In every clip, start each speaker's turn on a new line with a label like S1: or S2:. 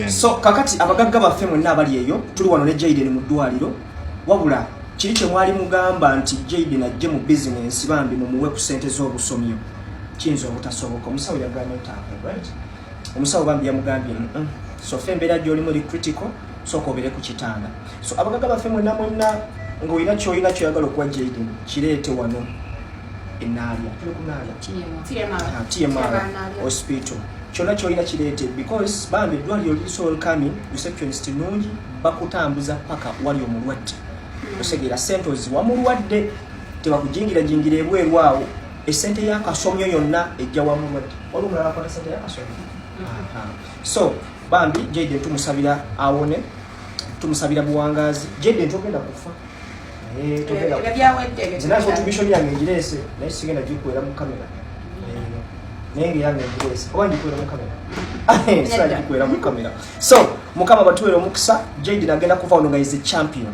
S1: so kakati abagagga baffe mwenna abali eyo tuli wano ne jaiden mu ddwaliro wabula kiri kye mwali mugamba nti jaiden ajje mu bizinensi bambi mumuwe ku sente z'obusomyo kiyinza obutasoboka omusawo yagambye ntaako right omusawo bambi yamugambye sofe embeera gyolimu ri critical sooka obeere ku kitanda so abagaga baffe mwena mwena ng'olina kyolina kyoyagala okuwa jaden kireete wano enaalya tulikunaala tmr ah, hospital kyonna kyolina kireete because bambi eddwaliro lisolkami receptionist nungi bakutambuza paka wali omulwadde hmm. osegeera sente oziwa mulwadde tebakujingirajingira ebweru awo esente yakasomyo yonna ejja wa mulwadde waliwo mulala akwata sente yakasomyo hmm. so bambi jade tumusabira awone tumusabira buwangazi jade ntogenda kufa nzinaotubishoni yange ngirese naye sigenda gikwera mu kamera naye nga yange ngirese oba ngikwera mu kamera sira gikwera mu kamera so mukama batuwere omukisa jade nagenda kuva ono nga is a champion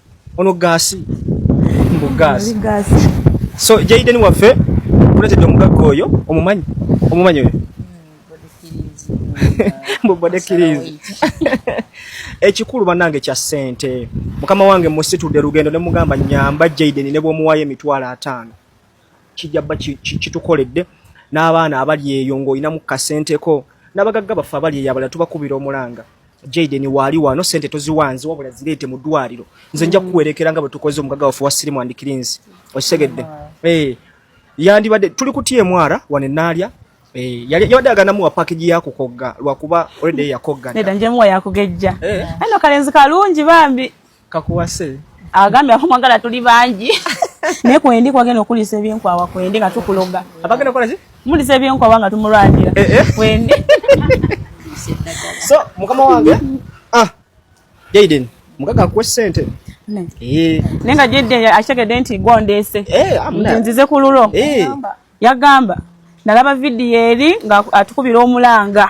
S1: Ono gaasi. Mbu gaasi. Gaasi. So Jaden waffe kuletedde omugagga oyo omumanyi omumanyi oyo mbubade kirizi ekikulu banange kya sente mukama wange musitudde lugendo ne mugamba nyamba Jaden ne bwomuwayo emitwalo ataano kijja bba kitukoledde n'abaana abali eyo ng'olinamu kasenteko n'abagagga baffe abali eyo abalala tubakubira omulanga jaden waali wano sente toziwanze wabula zireete mu ddwaliro nze nja kukuwerekera nga bwe tukoze omugagga waffe wa sirimu and cleans okitegedde eh, yandibadde tuli kutya emwara wano enaalya Eh, yali yabadde aganamuwa package ya kukogga lwakuba already yakoggana. Neda nje muwa yakugejja.
S2: Eh. Ano kalenzi kalungi bambi. kakuwase
S1: agambye
S2: akumwagala tuli bangi naye kwendi kwagenda okulisa ebyenkwawa kwendi nga tukuloga abagenda kolaki
S1: mulisa ebyenkwawa nga
S2: tumulwanira eh, eh. kwendi
S1: so mukama wange ah jaiden mukaga akuwe sente eh. naye
S2: nga jaiden akitegedde nti gwondeese nzize ku lulo yagamba nalaba vidiyo eri nga atukubira omulanga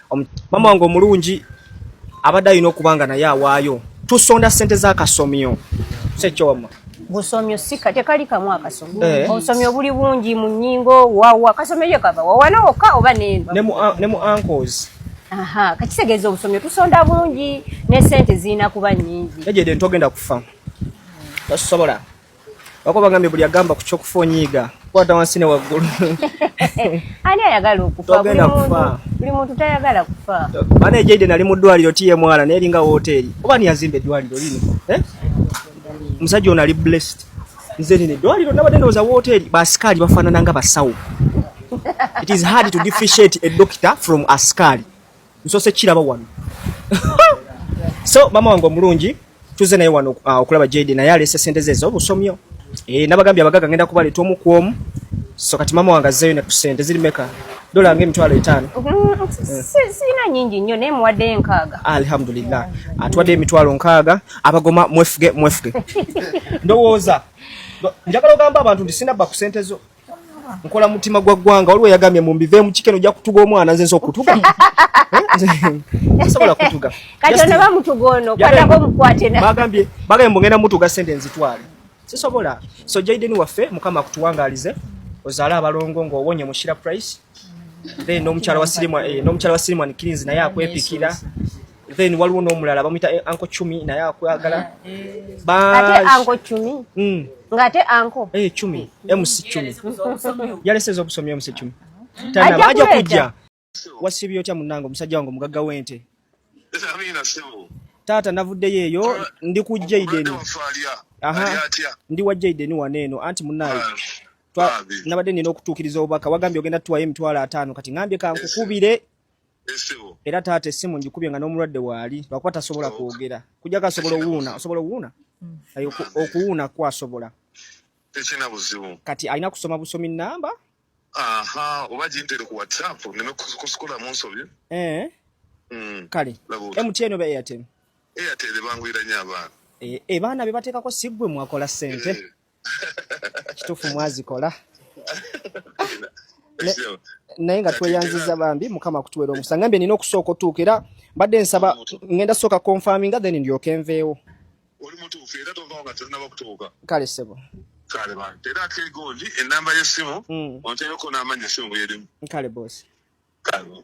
S1: mama wange omulungi abadde alina okuba nga naye awaayo tusonda sente zakasomyo sekyo wama busomyo
S3: sika tekali kamu akasomyo eh. obusomyo obuli bungi mu nyingo wawa kasomyo ye kava wawana wokka oba neno ne mu ah, ne mu uncles
S1: aha kakitegeeza
S3: obusomyo tusonda bungi ne sente zirina kuba nyingi ejede ntogenda kufa
S1: tosobola Wako bagambye buli agamba ku kyokufa onyiiga kwata wansi ne waggulu.
S3: Ani ayagala okufa? Buli muntu tayagala kufa. Bana ejeide nali mu
S1: ddwaliro tiye mwana naye eringa wooteeri. Oba ani yazimba eddwaliro lino? Eh? Musajja ono ali blessed. Nze nino eddwaliro nabadde ndowooza wooteeri. Baasikaali bafaanana nga basawo. It is hard to differentiate a doctor from askari. nsose kiraba wano so mama wange omulungi tuze naye wano uh, okulaba JD naye alese sente ze zobusomyo eh nabagambye abagaga ngenda kubali tomu kwomu so kati mama wange azzeyo ne kusente ziri meka dola nge emitwalo etaano
S3: sirina nyingi nnyo naye muwadde nkaaga alhamdulillah
S1: atuwadde emitwalo nkaaga abagoma mwefuge mwefuge ndowooza njagala ogamba abantu nti sinabba ku sente zo nkola mutima gwa ggwanga waliwo yagambye mu mbive mu kikeno ojja kutuga omwana nze nsa okutuga sobola kutuga kati ono bamutuga
S3: ono kwatako omukwate bagambye bagambye
S1: mugenda mutuga sente nzitwale sisobola so jaiden waffe mukama akutuwangalize ozaale abalongo ng'owonye mu shira price then n'omukyala wa sirimu eh, n'omukyala wa sirimu anikirizi naye akwepikira then waliwo n'omulala bamuyita eh, anko cumi naye akwagala ate
S3: anko cumi hmm. ng'ate anko eh, cumi eh, mc
S1: cumi yalese ez'obusomyo mc cumi tanaba aja kujja wasibye otya munange omusajja wange omugagga w'ente taata navuddeyo eyo ndi ku jaiden ndi wa jaiden wano eno anti munaye nabadde nina okutuukiriza obubaka wagambye ogenda tuwayo emitwalo ataano kati ngambye kankukubire era taata essimu njikubye nga n'omulwadde waali lwakuba tasobola kwogera kujako asobola owuuna osobola owuuna mm. okuwuuna kw asobola tekina
S4: buzibu kati alina kusoma busomi
S1: namba aha
S4: oba gintere ku whatsapp neme kusikola mu nsobi eh. mm.
S1: kale mtn oba airtel airtel bangwira
S4: nyo abaana ebaana eh, eh, bebateekako
S1: siggwe mwakola sente kitufu mwazikola naye nga tweyanziza bambi mukama kutuwera omusa ngambye nina okusooka otuuka era mbadde nsaba ngenda sooka konfaminga then ndyoka enveewo oli mutuufu
S4: era tovaawo nga terinaba kutuuka kale sebo
S1: kale bantu era
S4: ate egondi enamba yesimu mm.
S1: onteeko
S4: n'amanya esimu bwerimu kale
S1: bosi kale